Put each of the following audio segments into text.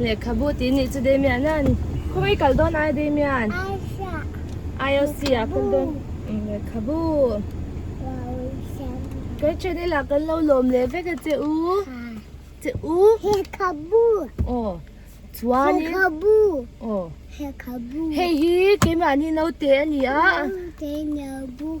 Lehkhabu tih nih chu Damian a ni. Khawng i kal dawn ai Damian? Aisha. Aisha kal dawn. Lehkhabu. Gretchen i lah kan lo lawm leh vek e che u. Che u. Lehkhabu. Aw. Chuan in. Lehkhabu. Aw. Lehkhabu. Hei hi keimah ni naute a ni a. Naute naute.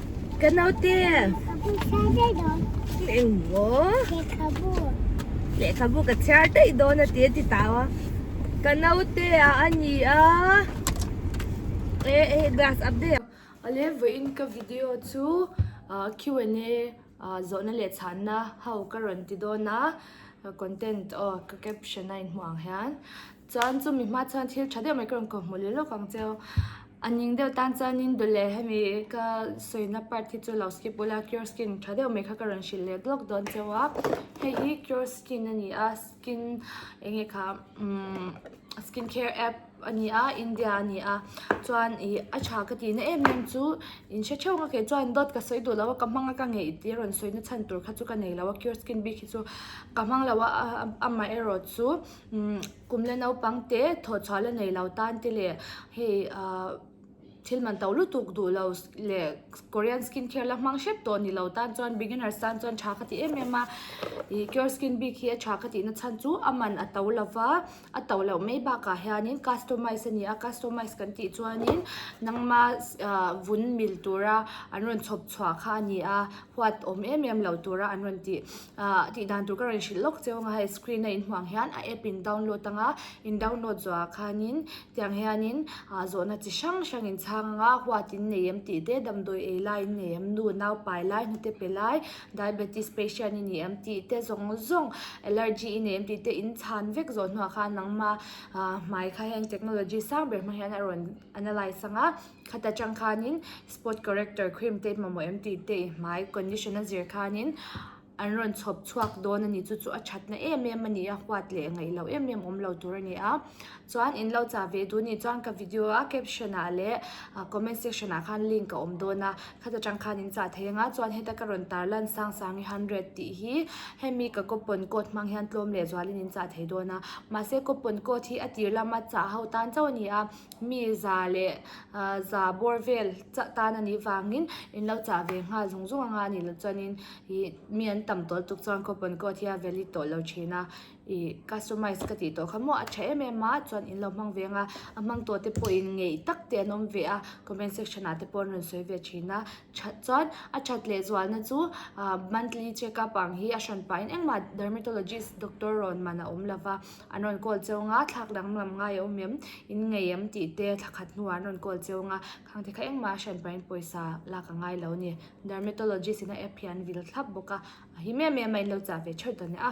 Ka naute engmaw lehkhabu ka chhiar daih dawn a tih a ti ta a ka naute a a ni a e e glass up dei a ale vawiin ka video chu Q&A zawhna leh chhanna ho ka rawn ti dawn a content aw ka caption a inhmuh ang hian. Chuan chu mi hma chuan thil tha deuh mai ka rawn kawhhmuh leh lawk ang che. A ning deuh tan chuanin dul leh hemi ka sawina part hi chu lo skip ula cure skin tha deuh mai kha ka rawn hrilh leh duak dawn che a. Hei hi cure skin a ni a, skin eng nge kha umm skin care app a ni a, India a ni a. Chuan ih a tha ka tihna em em chu in hre theuh ka ke chuan dawt ka sawi duh lo a, ka hmang a ka ngeih tih a rawn sawina chhan tur kha chu ka nei lo a, cure skin bik hi chu ka hmang lo a, a mah erawh chu. Kum le naupang te thawh chhuah la nei lo tan te leh hei thil man to lutuk duh lo leh Korean skin care la hmang hrep tawh ni lo tan chuan beginners tan chuan tha ka ti em em a. Ih Cure Skin bik hi a tha ka tihna chhan chu a man a to lo va, a to loh mai bakah hianin customize a ni a. Customize kan tih chuanin nangma vun mil tura an rawn chhawp chhuah kha a ni a, huat awm em em lo tura an rawn ti. Ahh, tih dan tur ka rawn hrilh lawk che awng a, hei screen a inhmuh ang hian a app in download ang a, in download zuah ah khanin tiang hianin ahh zawhna chi hrang hrang in chhang ang a, huat in nei em tih te, damdawi ei lai in nei em, nu nau pai lai, hnute pe lai, diabetes patient i ni em tih te zawng zawng, allergy i nei em tih te in chhan vek zawh hnuah khan nangma ahh hmai kha hian technology sang ber hmang hian a rawn analyse ang a. Khata chang khanin spot corrector cream te mamawh em tih te i hmai condition a zir khanin an rawn chhawp chhuak dawn a ni chu chu a thatna em em a ni a huat leh ngaih loh em em awm lo tur a ni a chuan in lo chah ve duhni chuan ka video a caption ah leh a comment section ah khan link a awm dawn a khata chang khan in chah thei ang a chuan heta ka rawn tar lan sang sang hi hundred tih hi hemi ka coupon code hmang hian tlawm leh zual in in chah thei dawn a mahse coupon code hi a tir lama chah ho tan chauh a ni a. mi za leh za bawr vel chah tan a nih vangin in lo chah ve nghal zung zung anga ni loh chuanin ih mi an tam tawh lutuk chuan coupon code hi a valid tawh lo thin a ih customise ka tih tawh kha maw a tha em em a chuan in lo hmang ve anga a hmang tawh te pawhin ngei tak te an awm ve a comment section ah te pawh an rawn sawi ve thin a. that chuan a that leh zualna chu ah monthly check up ang hi a hran pah in engmah dermatologist doctor rawn man a awm lo va an rawn call cheu nga thlak dang lam ngaihah awm em in ngaih em tih te thla khat hnuah an rawn call cheu nga khang te kha engmah a hran pah in pawisa lak a ngai lo a ni dermatologist ina app hi an vil thlap bawk a a hi mai mai a in lo chah ve theuh ta nia.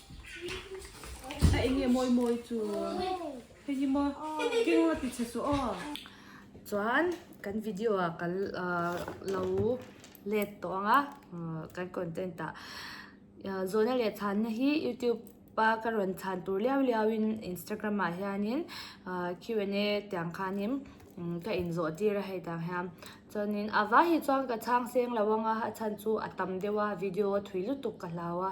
A eng nge mawi mawi chu? Hei hi maw? Keng la ti chhe suh aw. Chuan kan video ah kan lo let tawh ang a kan content ah. Zawhna leh chhanna hi youtube a ka rawn chhan tur liau liau in instagram ah hianin Q and A tiang khanin ka inzawh tir a hei tang hian. Chuanin a va hi chuan ka chhang seng lo ang a, a chhan chu a tam deuh a video a thui lutuk ka hlau a.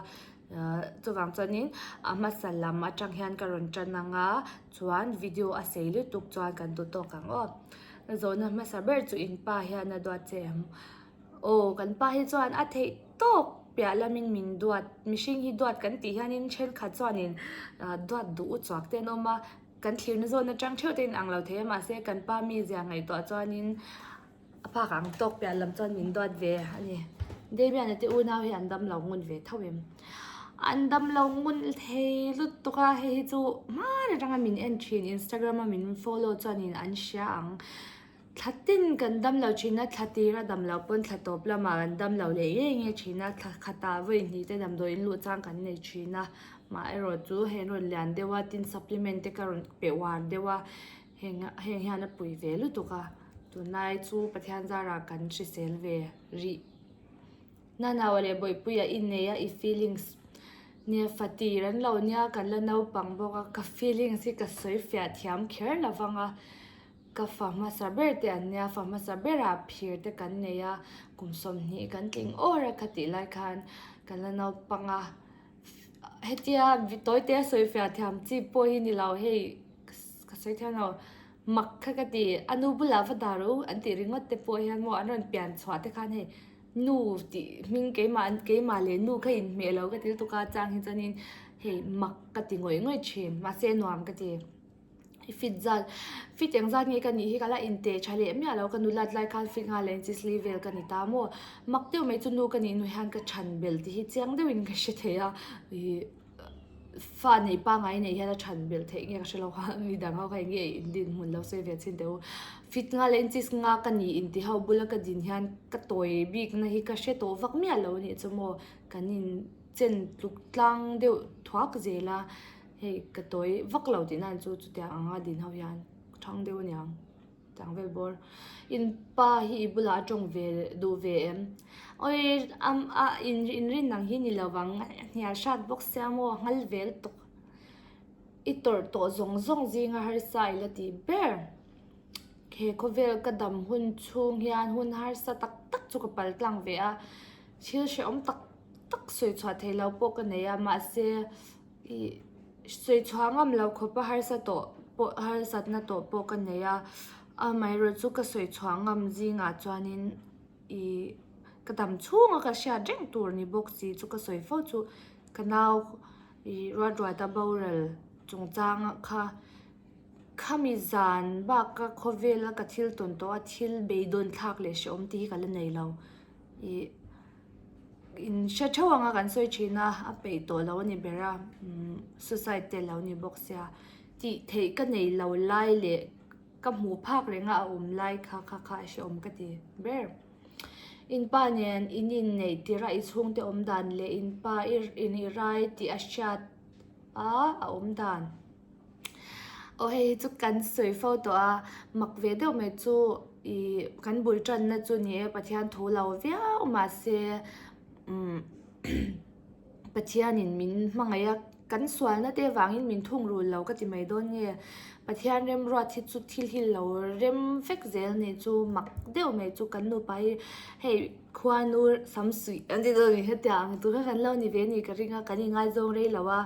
Chuvang chuanin a hmasa lam atang hian ka rawn tan ang a, chuan video a sei lutuk chuan kan duh tawk ang aw. Zawhna hmasa ber chu in pa hian a duat che ang. Aw kan pa hi chuan a theih tawk piah lamin min duat, mihring hi duat kan tih hianin thenkhat chuanin duat duh u chhuak te an awm a, kan thlir na zawn atang theuh te an inang lo thei a, mahse kan pa mizia ngaihtuah chuanin A pa kha ang tawk piah lam chuan min duat ve a ni. Damian-a te unau hi an damlo ngun ve tho em? An damlo ngun thei lut tawk a, hei hi chu hman atanga min en thin, Instagram-a min follow chuanin an hria ang. Thla ten kan damlo thin a, thla tir a damlo pawn thla tawp lama kan damlo leh nge nge thin a, thla khata vawi hnih te damdawi in luh chang kan nei thin a, mah erawh chu hei an rawn lian deuh a, tin supplement te ka rawn peh uar deuh a. Heng heng hian a pui ve lutuk a, tunlai chu Pathian zarah kan hrisel ve rih. Nanaua leh Bawipuia i nei a i feelings nia fatih ran lo nia kan la naupang bawk a, ka feelings hi ka sawi fiah thiam kher lo vang a, ka fa hmasa ber te an nia fa hmasa bera phir te kan nei a, kum sawmhnih kan tling awr a kha tih lai khan ka la naupanga. Hetia Vitawitea a sawi fiah thiam chi pawh hi ni lo hei, ka sawi thiam lo. Mak kha ka ti, a nu bulah va dar u an tih ringawt te pawh hian maw an rawn pian chhuah te khan hei, nu tih hming keimah an keimah leh nu kha inhmeh lo ka thil tuk a chang hi chuan in hei mak ka ti ngawih ngawih thin mahse nuam ka ti. i fit zat fit eng zat nge ka nih hi ka la in teh tha leh miah lo ka nu lat lai khan fit nghal leh inchis li vel ka ni ta maw mak deuh mai chu nu ka nih nu hian ka than belh tih hi chiang deuh in ka hre thei a ihh fa nei pa ngai nei hian a than belh theih nge ka hre lo a mi dang ho kha enge i din hmun lo sawi ve a chhin teh u fit nghal leh inchis nga ka ni in tih ho bula ka din hian ka tawi bik na hi ka hre tawh vak miah lo a nih chu maw kan in chen tluk tlang deuh thuak zel a. Hei ka tawi vak lo tih nan chu chutiang ang a din ho hian ka thang deuh aniang chang vel bawr in pa hi i bulah a tawng ve duh ve em awi am a in inrin ang hi ni lo vang a hnial hrat bawk se a maw a nghal vel tawh i tawrh tawh zawng zawng zing a harsa i la ti ber he khawvel ka dam hun chhung hian hun harsa tak tak chu ka pal tlang ve a thil hrehawm tak tak sawi chhuah theih lo pawh ka nei a mahse Ih, sawi chhuah ngam lo khawpa harsa tawh pawh, harsatna tawh pawh ka nei a, amaherawhchu chu ka sawi chhuah ngam zingah chuanin ih, ka tam chhunga ka hriat reng tur ni bawk si chu ka sawi fo chu. Ka nau ih Ruatruata boral chungchanga kha khami zan baka khawvela ka thil tawn tawha thil beidawnthlak leh hrehawmte hi ka la nei lo. Ih. In hre theuh anga kan sawi thin a, a peih tawh lo a ni ber a, suicide te lo ni bawk sia. Tih theih ka nei lo lai leh ka hmuh phak reng a a awm lai kha kha kha a hre awm ka ti ber. In pa nen i nin neih tirh a, i chhungte awm dan leh in pa i rai tih a hriat a, a awm dan. Aw hei hi chu kan sawi fo tawh a mak ve deuh mai chu ih kan bul tan na chu ni e pathian thu lo viau mahse umm pathianin min hmangaih a kan sual na te vangin min thungrun lo ka ti mai dawn nge pathian remruat hi chu thil hi lo rem fek zel ni chu mak deuh mai chu kan nupa hi hei khuanu sam suih an ti deuh ni hian tiang ang tur kha kan lo ni ve ni ka ring a kan ingaizawng rei lo a.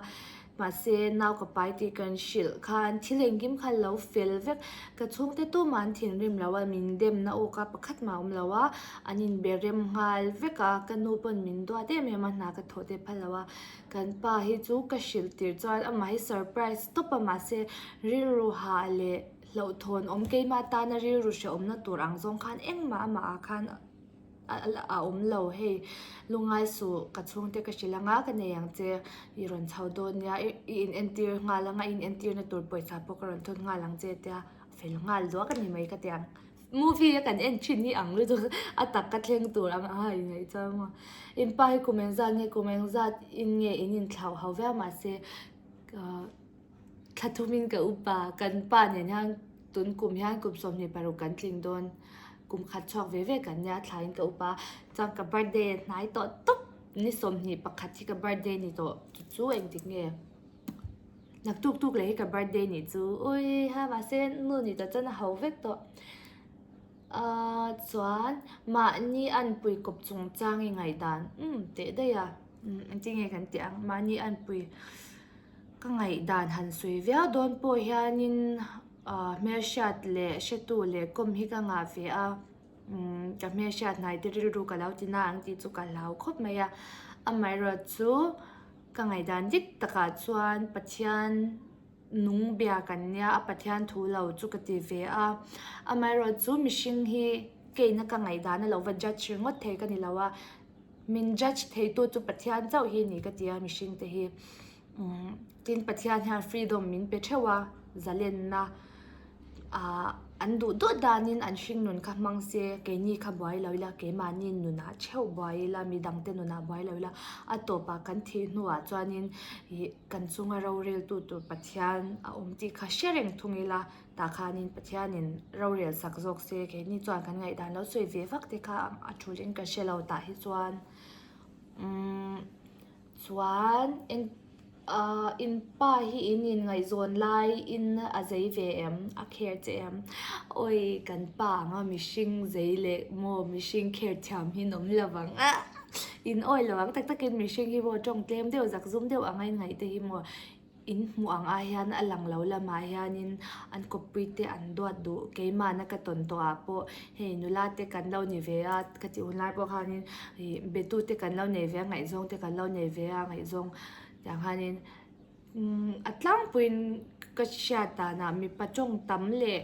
Mahse, nau ka pai tih kan hrilh khan thil engkim kha lo fel vek. Ka chhungte tuma an thinrim lo a, min demna awka pakhat mah a awm lo a, an inbe rem nghal vek a, ka nu pawn min duat em em a, hna ka thawh teh pha lo a. Kan pa hi chu ka hrilh tirh chuan amah hi surprise stop a, mahse, rilru ha leh hlauhthawn awm keima tana rilru hrehawmna tur ang zawng khan engmah amah ah khan, a awm lo hei lungai suh ka chhungte ka hrilh anga ka nei ang che i rawn chho dawn nia i in entir nghal anga in entir na tur pawisa pawh ka rawn thawt nghal ang che a tia fel nghal duak a ni mai ka ti ang movie a kan en thin hi ang lutuk a tak ka thleng tur ang a i ngaih chuang maw in pa hi kum engzat nge kum engzat in nge in intlauhau viau mah se ahh. Thla tumin ka upa, kan pa nen hian tun kum hian kum sawmhnih paruk kan tling dawn. Kum khat chhuak ve ve kan nia thlain ka upa. Chuan ka birthday a hnai tawh tawp, ni sawmhnih pakhat hi ka birthday ni tawh, chu chu a engtik nge? Hnak tuk tuk leh hi ka birthday ni chu, ui ha mahse nu ni tawh chuan a ho vek tawh. Ahh chuan mahni an puikawp chung chang i ngaihdan umm tehdaih a, engtin nge kan tih ang, mahni an pui. Ka ngaihdan han sawi viau dawn pawh hianin hmelhriat leh hretu leh kawm hi ka ngah ve a, ka hmelhriat hnaite rilru ka lo ti na ang tih chu ka hlau khawp mai a. Amaherawhchu chu ka ngaihdan dik takah chuan Pathian nung bia kan nia, a Pathian thu lo chu ka ti ve a. Amaherawhchu mihring hi keina ka ngaihdan a lo va judge ringawt thei ka ni lo a. Min judge theitu chu Pathian chauh hi a ni ka ti a, mihring te hi. Umm tin Pathian hian freedom min pe theuh a, zalenna aah an duh duah danin an hringnun kha hmang se, keini kha buai lo ila, keimahni nunah theuh buai ila, mi dangte nunah buai lo ila, a tawpah kan thih hnuah chuanin ih kan chunga roreltu tur Pathian a awm tih kha hre reng thung ila. Tah khanin Pathianin rorel sak zawk se, keini chuan kan ngaihdan lo sawi ve vak te kha a thu in ka hre lo tah hi chuan umm chuan eng ahh in pa hi in inngaihzawn lai in a zei ve em a care che em awi kan pa anga mihring zei leh maw mihring care thiam hi nawm lo vang a in awi lo vang tak tak in mihring hi maw tawng tlem deuh zak zum deuh anga in ngaihte hi maw. In hmuh ang ah hian a lang lo lam ah hianin an kawppui te an duat duh keimahna ka tawn tawh ah pawh hei nula te kan lo ni ve a ka tih hun lai pawh khanin ih be tu te kan lo nei ve a ngaihzawng te kan lo nei ve a ngaihzawng tah khanin umm a tlangpui in ka hriat dan ah mipa tawng tam leh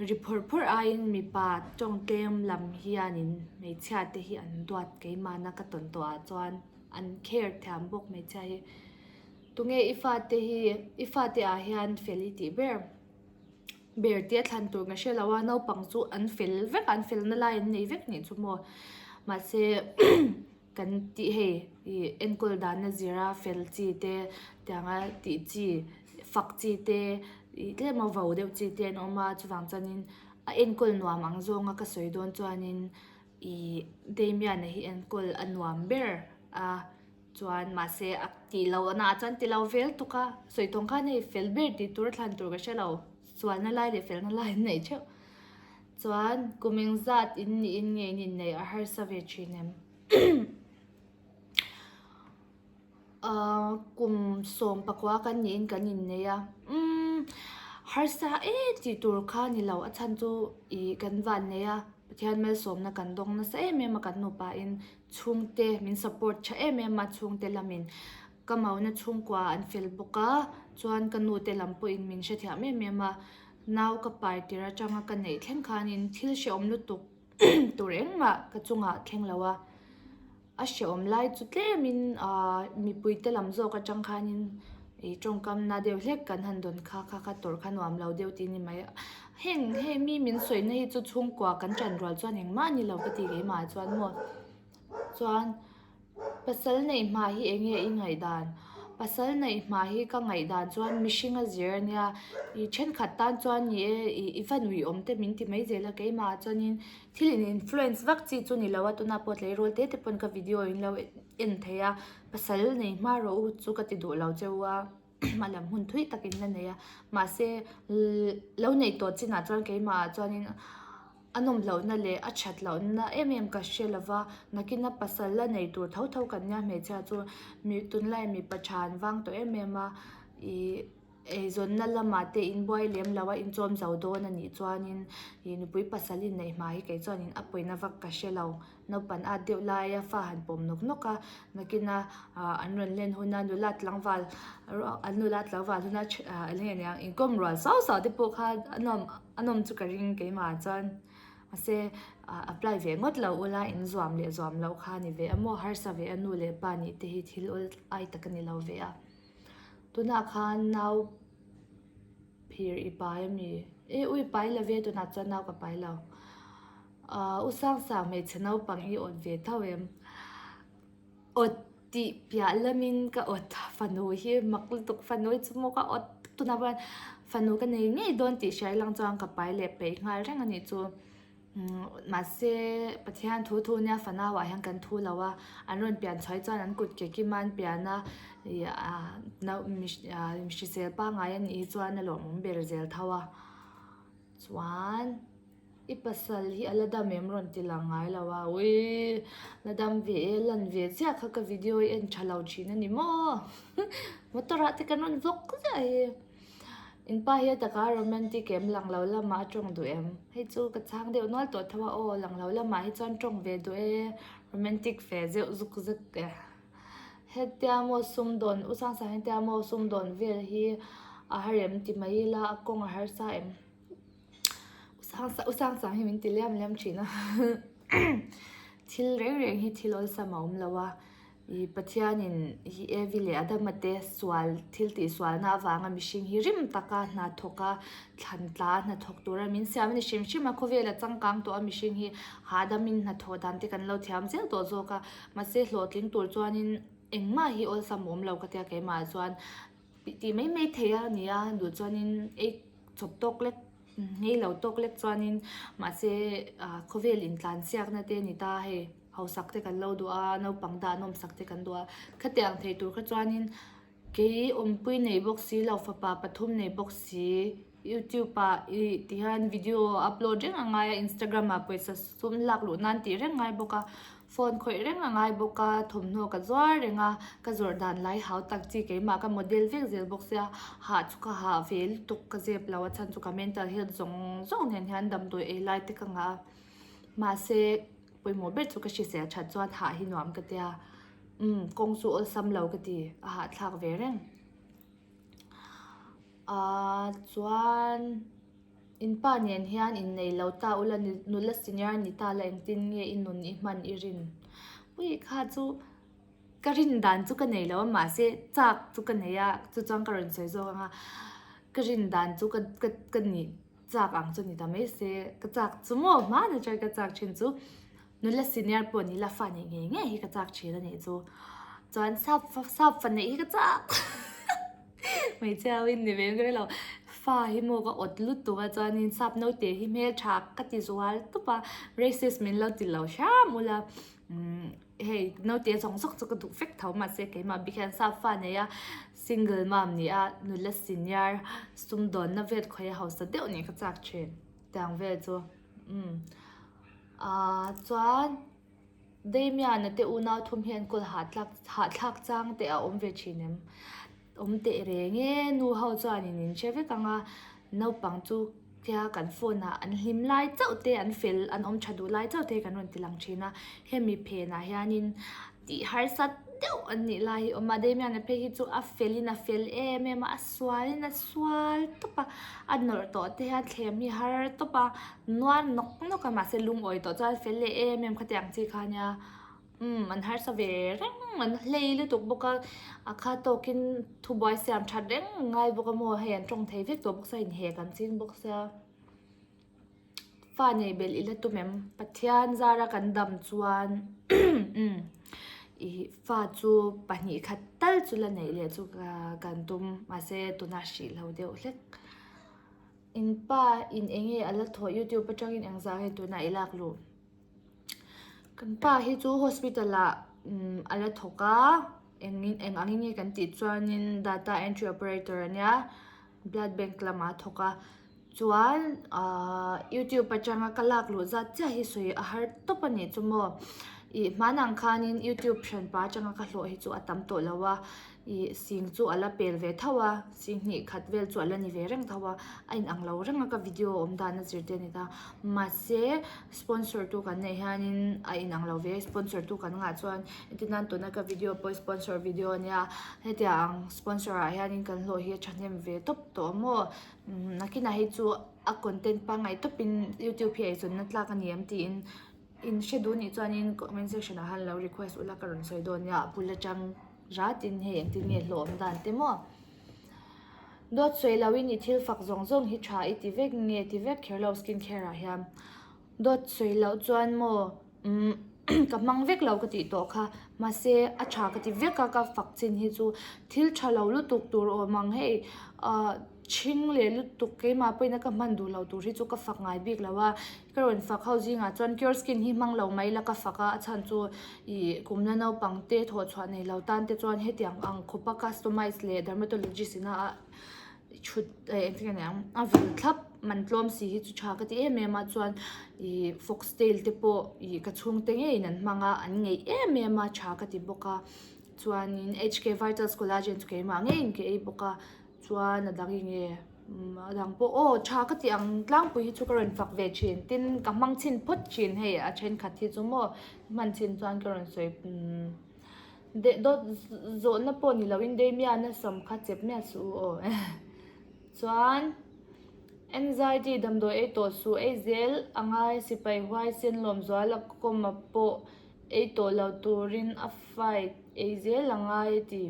ri phawrh phawrh ai in mipa tawng tlem lam hianin hmeichhia te hi an duat keimahna ka tawn tawh ah chuan an care thiam bawk hmeichhia hi. Tunge i fate hi i fate ah hian fel i tih ber? Ber tia thlan tur ka hre lo a, naupang chu an fel vek a, an felna lai an nei vek nih chu maw. Mahse kan tih hei i enkawl danna zira fel chi te tiang a tih chi fak chi te i tlem a vau deuh chi te an awm a. Chuvang chuanin a enkawl nuam ang zawnga ka sawi dawn chuanin ih Damian-a hi enkawl a nuam ber a. Chuan mahse a tih lo a naah chuan ti lo vel tuk a, sawi tawng khan hei fel ber ti tur a thlan tur ka hre lo, sualna lai leh felna lai an nei theuh. Chuan kum eng zat in niin nge ni neih a harsa ve thin em? Aaa kum sawm pakua kan niin kan innei a, umm harsa e tih tur kha ni lo a chhan chu ih kan van nei a, Pathian melsawmna kan dawng nasa em em a kan nu pain Chhungte min support tha em em a, chhungte lamin ka mauna chhungkua an fel bawk a, chuan ka nu te lam pawhin min hrethiam em em a, nau ka pai tir atanga ka neih thleng khanin thil hrehawm lutuk tur engmah ka chungah thleng lo a, a hrehawm lai chu tlemin aahh mipui te lam zawk atang khanin ih tawngkam na deuh hlek kan han dawn kha kha kha tawrh kha nuam lo deuh tih ni mai. Heng he mi min sawihna hi chu chhungkua kan chanrual chuan engmah ni lo ka ti keimah chuan maw chuan pasal neih hmah hi eng nge i ngaihdan pasal neih hmah hi ka ngaihdan chuan mihring a zir a nia i thenkhat tan chuan ni e i i va nuih awm te min ti mai zel a keimah chuanin thil in influence vak chi chu ni lo a tuna pawh tleirawl tete pawn ka video in lo en thei a pasal neih hma rawh u chu ka ti duh lo cheu a. a lam hun thui takin la nei a, mahse lo nei tawh chinah chuan keimahah chuanin a nawm lohna leh a that lohna em em ka hre lova, nakina pasal la nei tur tho tho kan nia hmeichhia chu mi tunlai mipa tha an vang tawh em em a, ih eizawnna lamah te inbuai lem lo a inchawmzo dawn anih chuanin ih nupui pasal inneih hmah hi kei chuan in a pawina vak ka hre lo. Naupan at deuh laia fa han pawm nawk nawk a, nakin a an rawn len hun a nula tlangval ruah an nula tlangval hun a a nge nia inkawm rual sau sau te pawh kha a nawm a nawm chu ka ring keimah chuan mahse apply ve ngawt lo ula in zuam leh zuam loh kha a ni ve a maw harsa ve a nu leh pa nih te hi thil awl ai tak a ni lo ve a tunah khan nau phir i pai a mi e u i pai love tunah chuan nau ka pai lo. Ahh u sang sang hmeichhe naupang i awt ve tho em? Awt tih piah lam in ka awt fanu hi mak lutuk fanu hi chu maw ka awt tuna ber a fanu ka nei ngei dawn tih hriai lang chuan ka pai leh peih nghal reng a nih chu mahse pathian thu thu nia fanau ah hian kan thu lo a an rawn pian chhuai chuan an kut ke kim a an pian a ih ahh nau ahh hrisel pangngai a nih hi chuan a lawmawm ber zel tho a chuan. I pasal hi a la dam em rawn ti la ngai lo a, ui la dam ve e, lan ve ziah kha ka video i en tha lo thin a ni maw motor ah te kan rawn vawk ziah hi in pa hi a taka romantic em lang lo lam ah a tawng duh em hei chu ka chang deuh nual tawh tho a aw lang lo lam ah hi chuan tawng ve duh e romantic fe zeuh zuk zet e hetia maw sum dawn u sang sang hetia maw sum dawn vel hi a harem ti mai ila a kawng a harsa em. u sang sang hi min ti liam liam thin a thil reng reng hi thil awlsam sam a awm lo a ih pathianin hi e vi leh adama te sual thil tih sual na avanga mihring hi rim taka hna thawk a thlan tla a hna thawk tura min siam a ni hrim hrim a khawvela changkang tawh a mihring hi hahdam in hna thawh dan te kan lo thiam zel tawh zawk a mahse hlawhtling tur chuan in engmah hi awlsam awm lo ka tia keimah chuan. Tih ti mai mai thei a ni a duh chuanin ei chawp tawk lek ngei lo tawk lek chuanin mahse ah khawvel in tlan siak na te ni ta hei hausak te kan lo duh a naupang dah nawm sak te kan duh a khatiah ang thei tur kha chuanin kei awm pui nei bawk si lo fapa pathum nei bawk si. YouTube ah i tih hian video upload reng a ngai a, Instagram ah pawisa sum lak luh nan tih reng a ngai bawk a, phone khawih reng a ngai bawk a, thawmhnaw ka zuar reng a, ka zawrh dan lai hau tak chi keimah ka model vek zel bawk sia, hah chu ka hah ve lutuk ka zep lo a chhan chu ka mental health zawng zawng nen hian damdawi ei lai te ka ngah a, mahse pawimawh ber chu ka hrisel that chuan hah hi nuam ka tia umm kawng chu awlsam lo ka ti a hahthlak ve reng. A chuan in pa nen hian in nei lo ta ula ni nula senior ni ta la engtin nge i nun i hman i rin puii kha chu ka rin dan chu ka nei lo a mahse chak chu ka nei a chuchuan ka rawn sawi zawk ang a ka rin dan chu ka ka ka nih. chak ang chu ni ta mai se ka chak chu maw hma na chuan ka chak thin chu nula senior pawh ni la fani ngei ngei hi ka chak thin a nih chu chuan sap fa sap faneih hi ka chak hmeichhia ho in ni ve ber lo fa hi maw ka awt lutuk a chuanin sap naute hi hmel tha ka ti zual tup a braces min lo ti lo hram ula umm. Hei naute zawng zawk chu ka duh fek tho mahse keimah bik hian Safa neia single mom nia nula senior sum dawnna vel khawia hausa deuh nen ka chak thin tiang vel chu umm aaa chuan Damian-a te unau thum hian call hahthlak hahthlak chang teh a awm ve thin em. Awm teh reng e, nu ho chuan in inhre vek ang a, naupang chu khia kan phone ah an hlim lai chauh te an fel an awm tha duh lai chauh te kan rawn ti lang thin a, hemi phen ah hian in tih harsat deuh an nih lai hi awm a, Damian-a phei hi chu a fel in a fel em em a, a sual in a sual tawp a, a nawrh tawh te hian thlem hi har tawp a, nual nawk nawk a, mahse lungawi tawh chuan fel leh em em kha tih ang chi kha a nia. Umm, an harsa ve reng, an hlei lutuk bawk a, a kha tawkin thubuai siam that reng a ngai bawk a maw hei an tawng thei vek tawh bawk se a inhek an ching bawk se a. Fa nei belh i la tum em? Pathian zara kan dam chuan umm i fa chu pahnih khat tal chu la neih leh chu kan tum mahse tuna a hrih loh deuh hlek. In pa in eng nge a la thawh youtube atangin engzah nge tuna i lak luh? Kan pa hi chu hospital ah umm a la thawk a eng in eng ang in nge kan tih chuanin data entry operator a nia blood bank lamah a thawk a chuan aaa youtube atanga ka lak luh zat chiah hi sawi a har tawp a nih chu maw ih hmanah ang khanin youtube thianpa atanga ka hlawh hi chu a tam tawh lo a. Ih sing chu a la pel ve tho a, sing hnih khat vel chu a la ni ve reng tho a, a inang lo reng a ka video awm dan a zirtir ni ta. Mahse sponsor tu kan neih hianin a inang lo ve, sponsor tu kan ngah chuan engtin nan tuna ka video pawh hi sponsor video a nia, hetiang ang sponsor ah hianin kan hlawh hi a thahnem ve tawp tawh maw, nakinah hi chu a content pangngai tawpin youtube hi eichawna tlak a ni ang tiin in hre duh nih chuanin comment section ah han lo request ula ka rawn sawi dawn nia a bul atang. ra tin hei engtin nge hlawhawm dan te maw dawt sawi lo in i thil fak zawng zawng hi tha i ti vek nge ti vek kher lo skin care ah hian dawt sawi loh chuan maw umm ka hmang vek lo ka tih tawh kha mahse a tha ka ti vek a ka fak chin hi chu thil tha lo lutuk tur awm ang hei ahh-- Chhing leh lutuk keimah pawhin a ka hman duh loh tur hi chu ka fak ngai bik lo a, ka rawn fak ho zingah chuan Cure Skin hi hmang lo mai ila ka fak a, a chhan chu ih kumna naupang te thawh chhuah nei lo tan te chuan hetiang ang khawpa customise leh dermatologist ina a thut eh engtin nge ang a vil thlap man tlawm si hi chu tha ka ti em em a chuan ih foxtail te pawh ih ka chhungte ngeiin an hmang a an ngeih em em a tha ka ti bawk a chuanin HK Vital's collagen chu keimah ngeiin ka ei bawk a. Chuan a dang inge? Umm a dang pawh aw tha ka tih ang tlangpui hi chu ka rawn fak ve thin tin ka hmang chhin phawt thin hei a thenkhat hi chu maw hman chhin chuan ka rawn sawi umm deh dawt zawhna pawh ni lo in daimia na sawm kha chep miah suh u aw eh chuan anxiety damdawi ei tawh suh ei zel a ngai sipai huai sen lawm zual a kawm a pawh ei tawh lo turin a fight ei zel a ngai ti.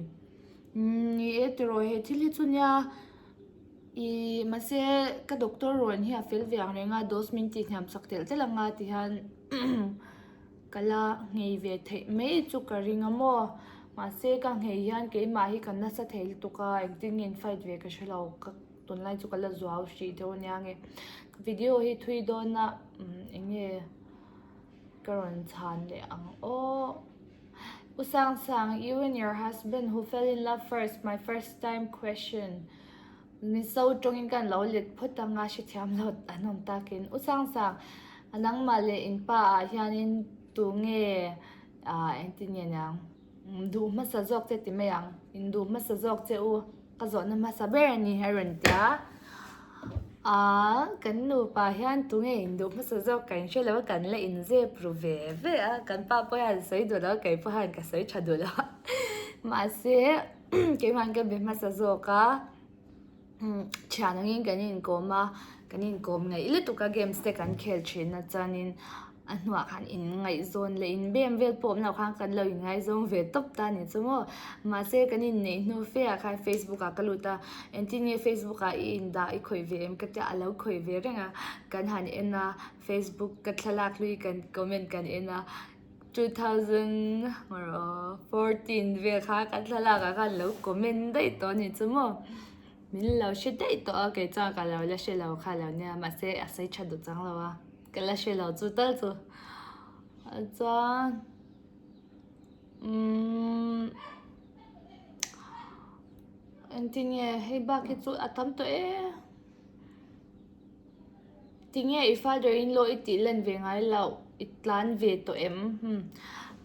Umm, ni e, tiraw he thil hi chu nia? Ih, mahse, ka doctor ruan hi a fel ve ang reng a, dose min tih hniam chak telh telh ang a ti hian ka la nghei ve theih mai chu ka ring a maw. Mahse, ka nghei hian keimah hi ka nasa thei lutuk a, engtin nge in fight ve ka hre lo, ka tunlai chu ka la zuau hrih deuh a nia nge. Ka video hi thui dawn a, umm, eng nge ka rawn chhan leh ang awh. U Sang Sang, You and your husband who fell in love first, my first time question min so tawngin ka lo let phawt a nga hrethiam lo a nawm takin U Sang Sang, nangmah leh in pa ah hianin tunge engtin nge niang duh hmasa zawk che ti mai ang? Induh hmasa zawk che u. Ka zawhna hmasa ber a ni a rawn ti a. Aaa kan nupa hian tunge induh hmasa zawk kan hre lo a kan la inzep ru ve ve a. Kan pa pawh hian a sawi duh lo a kei pawh hian ka sawi tha duh lo a. Mahse keimah hian ka be hmasa zawk a umm thianangin kan inkawm a kan inkawm ngaih lutuk a games te kan khel thinna chuanin. a hnua khan in ngaihzawn leh in bem vel pawh awmloh khan kan lo in ngaihzawn ve tawp ta a ni chu maw mahse kan inneih hnu fe ah khan facebook ah ka lut a engtin nge facebook ah i indah i khawih ve em ka tia alo khawih ve reng a kan han en a facebook ka thlalak hlui kan comment kan en a two thousand hmawr aww fourteen vel kha ka thlalak ah khan lo comment daih tawh a ni chu maw min lo hre daih tawh a kei chuan ka lo la hrelo kha lo nia mahse a sei tha duh changlo a. Ka la hre lo chu tal chu. Chuan umm engtin nge hei bak hi chu a tam tawh e. Tinge i father in law i tih len ve ngai loh i tlan ve tawh em hmm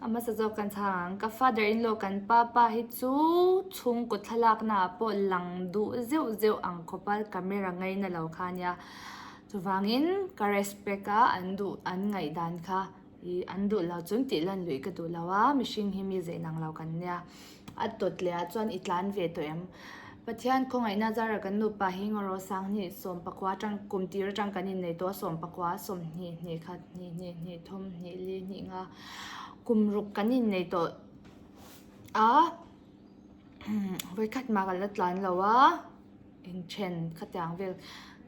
a hmasa zawk kan chhang ang ka father in law kan papa hi chu chhungkaw thlalaknaah pawh lang duh zeuh zeuh ang khawpa camera ngaina lo kha nia. Chuvangin ka respect a an duh an ngaih dan kha i an duh lo chun tih lan luih ka duh lo a, mihring hi mi zein ang lo kan nia a tawt leh ah chuan i tlan ve tawh em? Pathian khawngaihna zara kan nu pa hi ngaw ro sang hnih sawm pakua tang kum tir atang kan in nei tawh a sawm pakua sawmhnih hnih khat hnih hnih hnih thum hnih li hnih nga kum ruk kan in nei tawh a vawi khat mah kan la tlan lo a. Inthen khatiang vel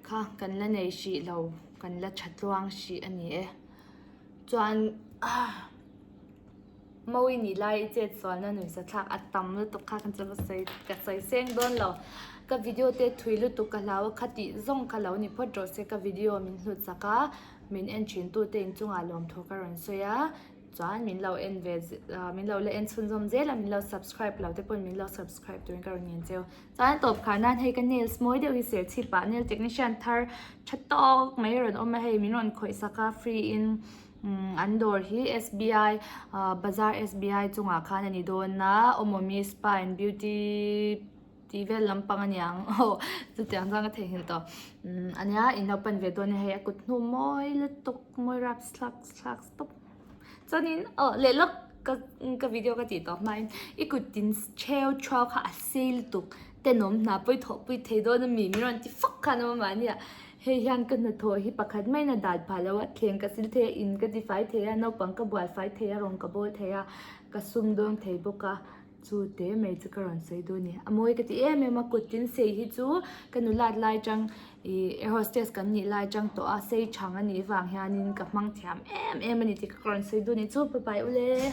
kha kan la nei hrih lo, kan la tha tluang hrih a ni e. Chuan Mo i nih lai i chetsualna nuisathlak a tam lutuk kha kan che hmasa sawi ka sawi seng dawn lo. Ka video te thui lutuk ka hlau a, khati zawng ka lo ni phawt rawh se ka video min hlut sak a, min en thintu te inchungah lawmthu ka rawn sawi a, chuan min lo en ve min lo la en chhunzawm zel a, min lo subscribe lo te pawh min lo subscribe turin ka rawn ngen che. Chuan tawp kha nan hei ka nails mawi deuh hi serchhip ah nail technician thar tha tawk mai a rawn awm a hei min rawn khawih sak a free in an dawr hi SBI ah bazar SBI chungah khan a ni dawn a awmawmi spa and beauty tih vel lampang a ni ang aw chutiang chuan ka theihnghilh tawh a nia in lo pan ve dawn a ni hei a kut hnu mawi lutuk mawi rap slak slak stawp. chuanin oh lehlak ka ka video ka tih tawh hmain i kutin cheu chua kha a sei lutuk tenawm hna pawih thawh pawih thei dawn ami min rawn ti fak khan a mahni ah hei hian ka hnathawh hi pakhat mai in a dan pah loh a thleng ka sil thei a in ka ti fai thei a naupang ka buai fai thei a rawn ka bawl thei a ka sum dawn thei bawk a. Chu te mai chu ka rawn sawi dawn ni. A mawi ka ti em em a kut tin sei hi chu ka nu lat lai chang ih air hostess kan nih lai chang tawh a sei chhang anih vang hian in ka hmang thiam em em a ni tih ka rawn sawi dawn ni. Chu papai ule.